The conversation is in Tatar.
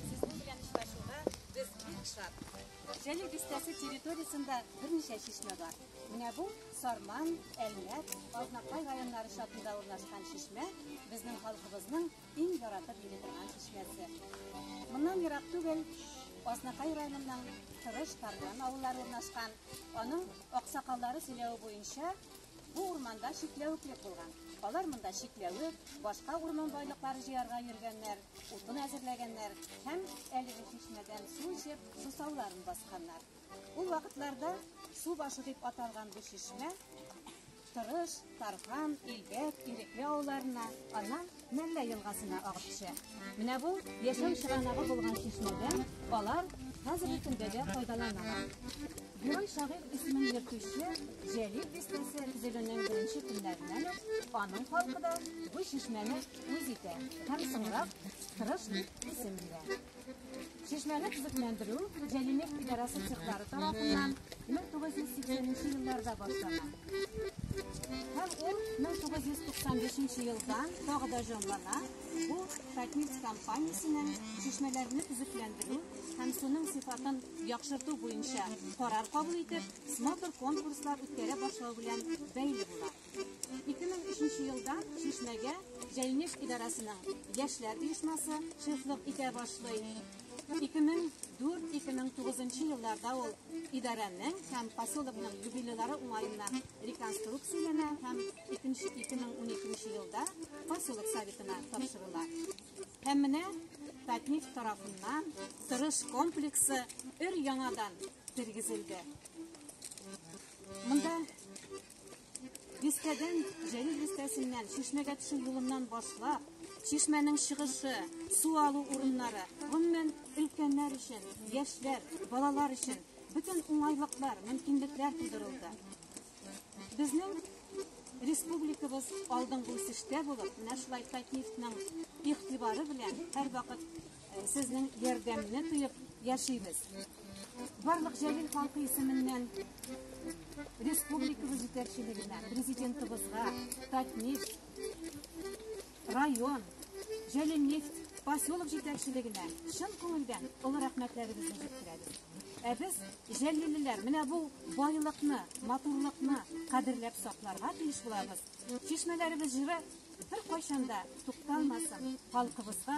Сезнең белән очрашуга без бик шат. Җәлил бистәсе территориясендә берничә чишмә бар. Менә бу Сарман, Әлмәт, Азнакай районнары чатында урнашкан чишмә безнең халкыбызның иң яратып йөри торган чишмәсе. Моннан ерак түгел Азнакай районының Тырыш Тарган авыллары урнашкан. Аның аксакаллары сөйләве буенча, Бу урманда чикләвеклек булган. Алар монда чикләвек, башка урман байлыклары җыярга йөргәннәр, утын әзерләгәннәр һәм әлеге чишмәдән су эчеп, сусауларын басканнар. Ул вакытларда су башы дип аталган бу чишмә Тырыш, Тархан, Илбәк, Ирекле авылларына, аннан Мәллә елгасына агып төшә. Менә бу яшәү чыганагы булган чишмәдән алар хәзерге көндә дә файдаланалар. Герой шагыйрь исемен йөртүче Җәлил бистәсе төзелүнең беренче көннәреннән үк аның халкы да бу чишмәне үз итә һәм соңрак Тырыш дип исем бирә. Чишмәне төзекләндерү Җәлимек идарәсе цехлары тарафыннан 1980 елларда башлана. Һәм ул 1995 елдан тагы да җанлана. Бу Татнефть компаниясенең чишмәләрне төзекләндерү һәм суның сыйфатын яхшырту буенча карар кабул итеп, смотр конкурслар үткәрә башлау белән бәйле була. 2003 елда Чишмәгә Җәймеш идарәсенең яшьләр оешмасы шефлык итә башлый. 2004-2009 елларда ул идарәнең һәм поселокның юбилейлары уңаеннан реконструкцияләнә һәм 2012 елда поселок советына тапшырыла. Һәм менә Татник тарафыннан тырыш комплексы өр яңадан тергезелде. Монда Дискәдән Җәлил дискәсеннән чишмәгә төшү юлыннан башлап, чишмәнең чыгышы, су алу урыннары, гомумән, өлкәннәр өчен, яшьләр, балалар өчен бөтен уңайлыклар, мөмкинлекләр тудырылды. Безнең республикабыз алдынгы үсештә булып, менә шулай Татнефтьнең игътибары белән һәрвакыт Сезнең ярдәмне тоеп яшибез. Барлык Җәлил халкы исеменнән республикабыз җитәкчелегенә, президентыбызга, Татнефть, район, Җәлил нефть поселок җитәкчелегенә чын күңелдән олы рәхмәтләребезне җиткерәбез. Ә без җәллилеләр менә бу байлыкны, матурлыкны кадерләп сакларга тиеш булабыз. Чишмәләребез җыры бер кайчанда тукталмасын, халкыбызга